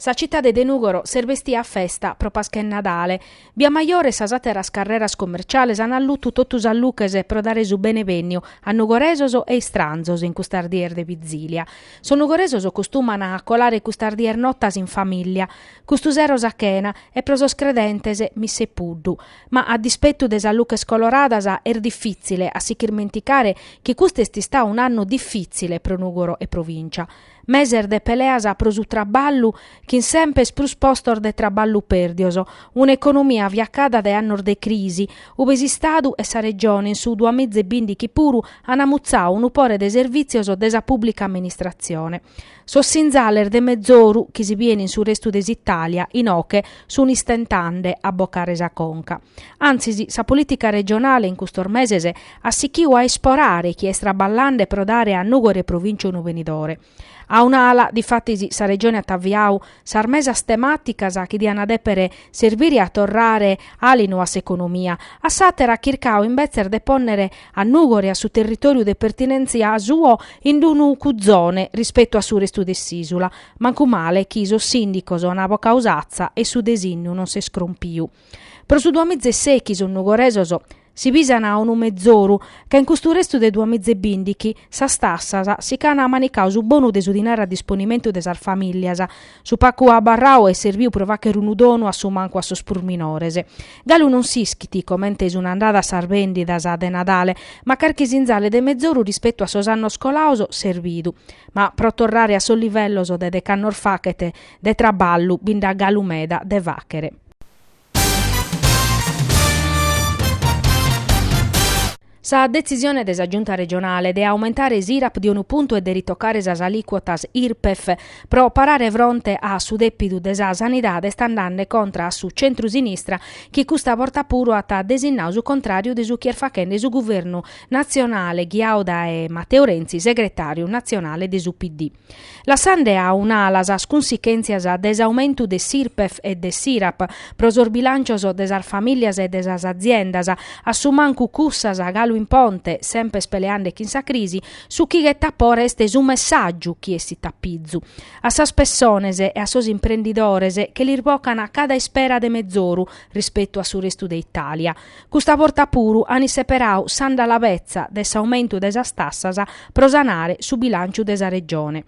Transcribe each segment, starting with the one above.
Sa citade de Nùgoro s'est bestia a festa pro Pasca 'e Nadale. Bia Majore e sas àteras carreras comerciales ant allutu totu sas luches pro dare su benevènniu a nugoresos e istranzos in custas dies de vizìlia. Sos nugoresos costumant a colare custas dies notas in famìllia, custu sero sa chena e pro sos credentes missa 'e puddu. Ma a dispetu de sas luches coloradas est difìtzile a si ch'irmenticare chi custu est istadu un'annu difìtzile pro Nùgoro e provìncia. meses de peleas pro su traballu chin sempes prus postos de traballu pèrdios, un'economia fiacada dae annos de crisi, ube s'Istadu e sa Regione in su duamiza e bìndichi puru ant amutzadu unu pore de servìtzios de sa pùblica amministratzione. Sos sinzales de mezoru chi si biene in su restu de s'Itàlia inoche sunt istentande a bocare sa conca. Antzis sa polìtica regionale in custos meses at sichiu a isporare chi est traballande pro dare a Nùgoro e provìntzia unu benidore. A un'ala, difatis, sa Regione at aviadu sas mesas temàticas chi diant dèpere serbire a torrare àlinu a s'economia, a s'àtera at chircadu imbetzes de pònnere a Nùgoro e a su territòriu de pertinèntzia suo in unu cuzone rispetu a su restu de s'ìsula, mancu male chi sos sìndicos ant bocau s'atza e su desìnnu non s'est crompidu. Pro su duamiza e sèichi sos nugoresos. si bisan unu mezoru, ca in custu restu de duamiza e bìndichi, sas tassas, si ch'an manicau su bonu de su dinare a disponimentu de sas famìllias, su pagu abarradu est serbiu pro fàghere unu donu a su mancu a sos prus minores. Galu non s'ischit comente sun andadas sas bèndidas de Nadale, ma carchi sinzale de mezoru rispetu a sos annos colados s'est bidu. Ma pro torrare a sos livellos de dec'annos faghet de traballu, bi nd'at galu meda de fàghere. Sa detzisione de sa Giunta regionale de aumentare s'IRAP de unu puntu e de ritocare sas alìcuotas Irpef pro parare fronte a su dèpidu de sa sanidade est andande contra a su centru-sinistra chi custa borta puru at desinnadu su contràriu de su chi est faghende su guvernu natzionale ghiadu dae Matteo Renzi, segretàriu natzionale de su PD. lassande a un'ala sas cunsichèntzias de s'aumentu de s'IRPEF e de s'IRAP pro sos bilàncios de sas famìlias e de sas aziendas, a su mancu cussas galu in ponte, sempes peleande chin sa crisi, su chi ghetat pore est su messàgiu chi essit a pizu. A sas pessones e a sos imprendidores che lis bocan cada ispera de mezoru rispetu a su restu de Itàlia. Custa borta puru ant seperau s'andalabetza de s'aumentu de sas tassas pro sanare su bilànciu de sa Regione.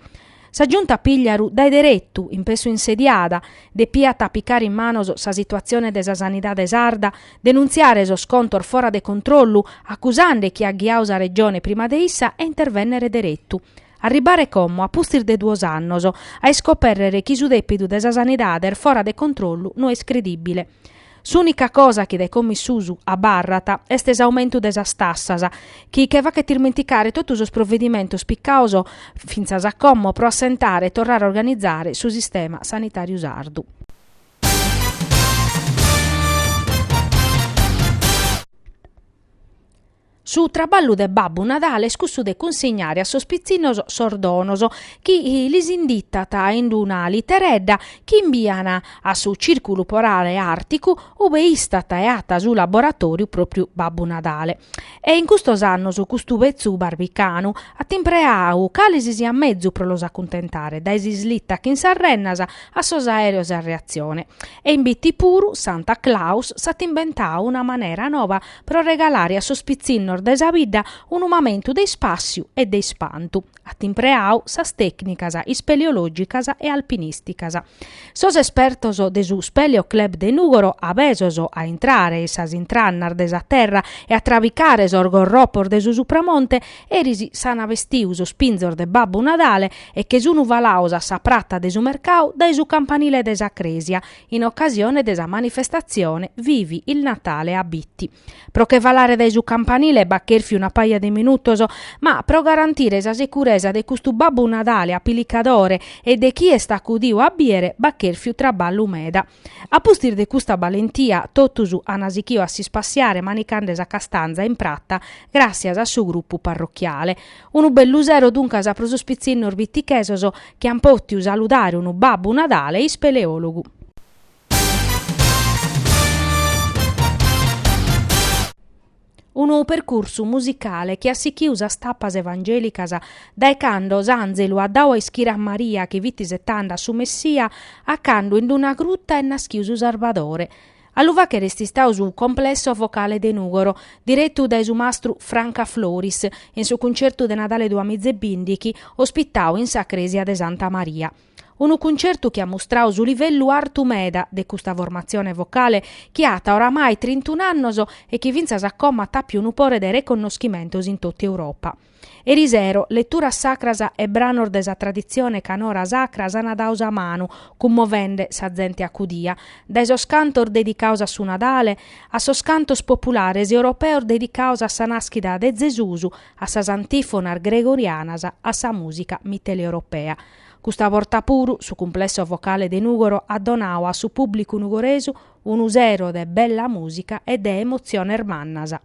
Sa Giunta Pigliaru dae deretu, in pessu insediada, depiat a picare in manos sa situatzione de sa sanidade sarda, denuntziare sos contos fora de controllu, acusande chie at ghiadu sa Regione prima de issa e intervènnere deretu. Arribare como, a pustis de duos annos, a iscopèrrere chi su dèpidu de sa sanidade est fora de controllu no est credìbile. S'ùnica cosa chi dae como in susu abarrat est s'aumentu de sas tassas, chi che faghet ismenticare totu sos provedimentos picados fintzas a como pro assentare e torrare a organizare su sistema sanitàriu sardu. Su traballu de Babbu Nadale est cussu de cunsignare a sos pitzinnos sos donos chi lis inditat in una literedda chi imbian a su Cìrculu Polare Àrticu ube istat e at su laboratòriu pròpriu Babbu Nadale. E in custos annos custu betzu barbicanu at impreadu cale si siat mezu pro los acuntentare, dae s'islitta chin sas rennas a sos aèreos a reatzione. E in Bitti puru, Santa Claus, s'at imbentadu una manera nova pro regalare a sos pitzinnos de sa bidda unu mamentu de ispàssiu e de ispantu, at impreadu sas tècnicas ispeleològicas e alpinìsticas. Sos espertos de su Speleo Club de Nùgoro, abesos a intrare in sas intrannas de sa terra e a trabicare sos gorropos de su Supramonte, eris s'ant bestidu sos pinzos de Babbu Nadale e che sun falados a sa prata de su mercadu dae su campanile de sa crèsia, in ocasione de sa manifestatzione Vivi il Natale a Bitti. Pro che falare dae su campanile b'at chèrfiu una paja de minutos, ma pro garantire sa sicuresa de custu Babbu Nadale apilicadore e de chie est acudiu a bìere b'at chèrfiu traballu meda. A pustis de custa balentia totus an sighiu a s'ispassiare manicande sa castanza in prata gràssias a su grupu parrochiale. Unu bellu sero duncas pro sos pitzinnos bitichesos chi an pòtidu saludare unu Babbu Nadale ispeleòlogu. Unu percursu musicale chi at sichidu sas tapas evangèlicas dae cando s'ànzelu at dadu a ischire a Maria chi fit isetande a su Messia a cando in una gruta est naschidu su Sarbadore. A lu fàghere est istadu su Complesso Vocale de Nùgoro, diretu dae su mastru Franca Floris, in su cuncertu de Nadale duamiza e bìndichi, ospitadu in sa crèsia de Santa Maria. Unu cuncertu chi at mustradu su livellu artu meda de custa formatzione vocale chi at oramai trintun'annos e chi fintzas a como at àpiu unu pore de reconnoschimentos in totu Europa. Erisero, leturas sacras e branos de sa traditzione canora sacra s'ana dados a manu, cummovende sa zente acudia, dae sos cantos dedicados a su Nadale, a sos cantos populares europeos dedicados a sa naschida de Zesus, a sas antifonas gregorianas, a sa musica mitteleuropea. Custa borta puru su cumplesso vocale de Nugoro at donadu a su pubblicu nugoresu unu sero de bella musica e de emotziones mannas.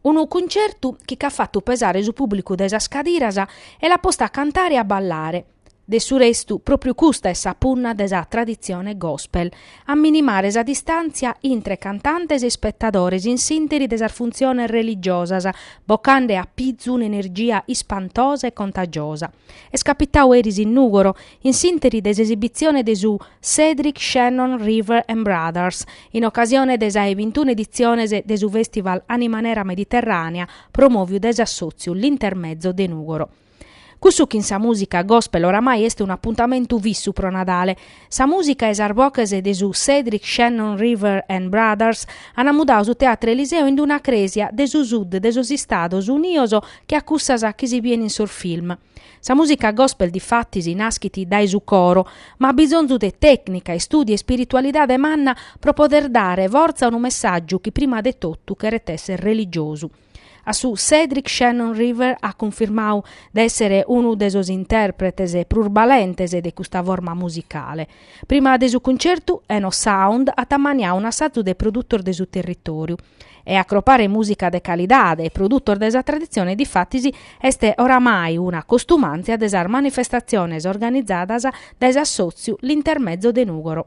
Unu cuncertu chi ch'at fatu pesare su pùblicu dae sas cadiras e l'at postu a cantare e a ballare. De su restu, pròpriu custa est sa punna de sa traditzione gospel, a minimare sa distàntzia intre cantantes e ispetadores in s'ìnteri de sas funtziones religiosas, bocande a pizu un'energia ispantosa e contagiosa. Est capitadu eris in Nùgoro, in s'interi de s'esibitzione de su Cedric Shannon River and Brothers, in ocasione de sa 'e bintuna editziones de su fèstival Anima Nera Mediterrànea promòviu dae s'assòtziu L'Intermezzo de Nùgoro. Cussu chin sa mùsica gospel oramai est un'apuntamentu fissu pro Nadale. Sa mùsica e sas boches de su Cedric Shannon River and Brothers an mudadu su Teatro Eliseo in una crèsia de su sud de sos Istados Unidos che a cussas chi si bien in sos film. Sa mùsica gospel difatis naschit dae su coro, ma at bisonzu de tècnica, istùdiu e spiritualidade manna pro poder dare fortza a unu messàgiu chi prima de totu cheret èssere religiosu. A su Cedric Shannon River at cunfirmadu de èssere unu de sos intèrpretes prus balentes de custa forma musicale. Prima de su cuncertu, Enosound at ammaniadu un'assazu de produtos de su territòriu. e acropare mùsica de calidade e produtos de sa traditzione difatis est oramai una costumàntzia de sas manifestatziones organizadas dae s'assòtziu L'Intermezzo de Nùgoro.